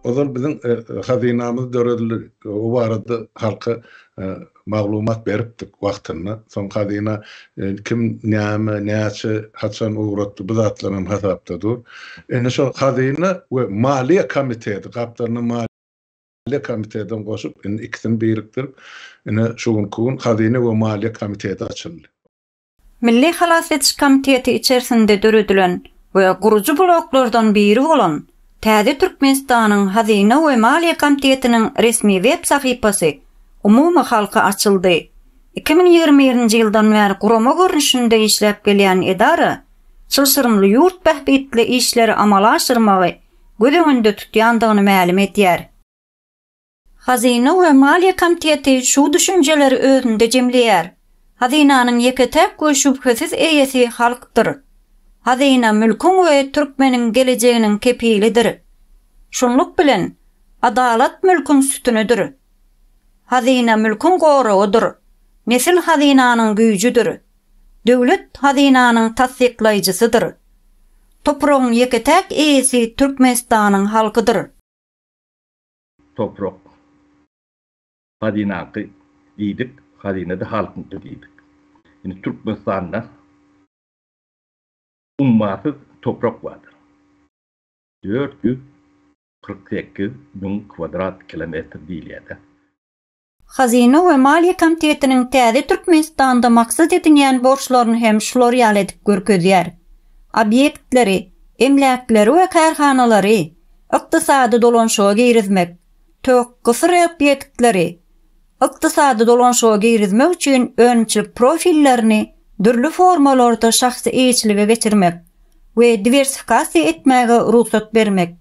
Ozal biziň e, hazynamyz döredildi. O barada halka e, maglumat beripdik wagtynda. Soň hazyna e, kim näme, näçe, haçan ugratdy bu zatlar hem hasapda dur. Indi şo hazyna we maliýe komiteti gapdalyna maliýe komitetini goşup, indi ikisini birikdirip, indi şu günki gün hazyna we maliýe komiteti açyldy. Milli halas ediş komiteti içersinde döredilen we gurujy bloklardan biri bolan täze Türkmenistanyň Hazyna we maliýe komtietiniň resmi web sahypasy umumy halka açyldy. Iki müň ýigrimi birinji ýyldan bäri gurama görnüşinde işläp gelýän edara çylşyrymly ýurt bähbitli işleri amala aşyrmagy göz öňünde tutýandygyny mälim edýär. Hazyna we Maliýe komiteti şu düşünjeleri özünde jemleýär. Hazynanyň ýeke-täk we şübhesiz eýesi halkdyr. Hazyna mülküň we türkmeniň gelejeginiň kepilidir. Şunluk bilen, adalat mülküň sütünidir. Hazyna mülküň goragydyr. Nesil hazynanyň güýjüdir. Döwlet hazynanyň tassyklaýjysydyr. Topragyň ýeke-täk eýesi Türkmenistanyň halkydyr. Toprak, hazynaňky diýdik, hazyna-da halkyňky diýdik. Indi Türkmenistanda ummasyz toprak bardyr. Dört ýüz kyrk sekiz müň kwadrat kilometr diýilýär-dä. Hazyna we Maliýe Komitetiniň täze Türkmenistanda maksat edinýän borçlaryny hem şular ýaly edip görkezýär. Obýektleri, emläkleri we kärhanalary ykdysady dolanşyga girizmek, tök, gysyr obýektleri ykdysady dolanşyga girizmek üçin önümçilik profillerini dürli formalarda şahsy eýeçilige geçirmek we diwersifikasiýa etmäge rugsat bermek,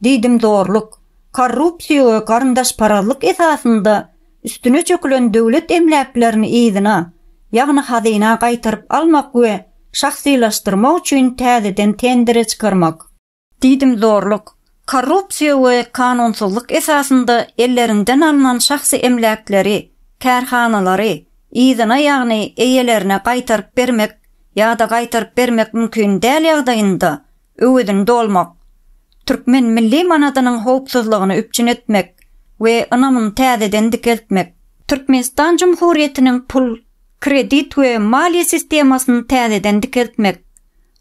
diýdimzorluk, korrupsiýa we garyndaşparazlyk esasynda üstüne çökülen döwlet emläklerini yzyna, ýagny hazyna gaýtaryp almak we şahsylaşdyrmak üçin täzeden tendere çykarmak. Diýdimzorluk, korrupsiýa we kanunsyzlyk esasynda elleriňden alnan şahsy emläkleri, kärhanalary, yzyna ýagny eýelerine gaýtaryp bermek ýa-da gaýtaryp bermek mümkin däl ýagdaýynda öwezini dolmak, türkmen milli manadynyň howpsuzlygyny üpjün etmek we ynamyny täzeden dikeltmek, Türkmenistan Jumhurýetiniň pul, kredit we maliýe sistemasyny täzeden dikeltmek,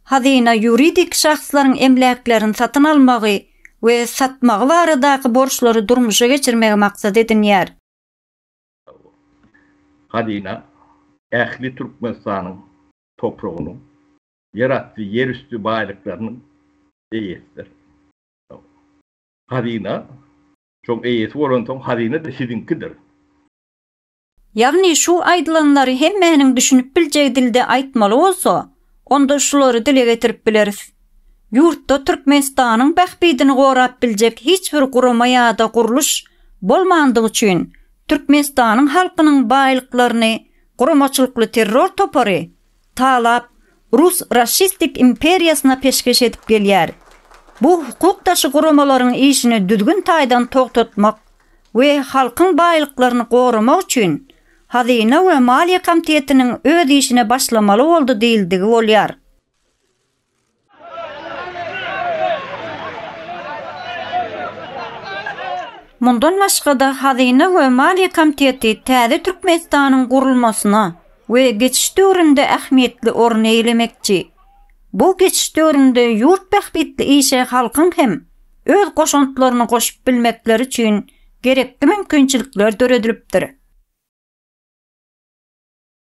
hazyna ýuridik şahslaryň emläklerini satyn almagy we satmagy baradaky borçlary durmuşa geçirmegi maksat edinýär. Hazyna ähli Türkmenistanyň topragynyň ýerasty, ýerüsti baýlyklarynyň eýesidir. Hazyna şoň eýesi bolansoň, hazyna-da siziňkidir. Ýagny şu aýdylanlary hemmäniň düşünip biljegi dilde aýtmaly bolsa, onda şulary dile getirip bileris. Ýurtda Türkmenistanyň bähbidini gorap biljek hiç bir gurama ýa-da gurluş bolmandygy üçin, Türkmenistanyň halkynyň baýlyklaryny guramaçylykly terror topary talap rus raşistik imperiýasyna peşgeş edip gelýär. Bu hukuk daşy guramalaryň işini düzgün taýdan togtatmak we halkyň baýlyklaryny goramak üçin Hazyna we maliýe komtetiniň öz işine başlamaly boldy diýildigi bolýar. Mundan başga-da, Hazyna we maliýe komiteti täze Türkmenistanyň gurulmasyna we geçiş döwründe ähmiýetli orun eýelemekçi. Bu geçiş döwründe ýurt bähbitli işe halkyň hem öz goşantlaryny goşup bilmekleri üçin gerekli mümkinçilikler döredilipdir.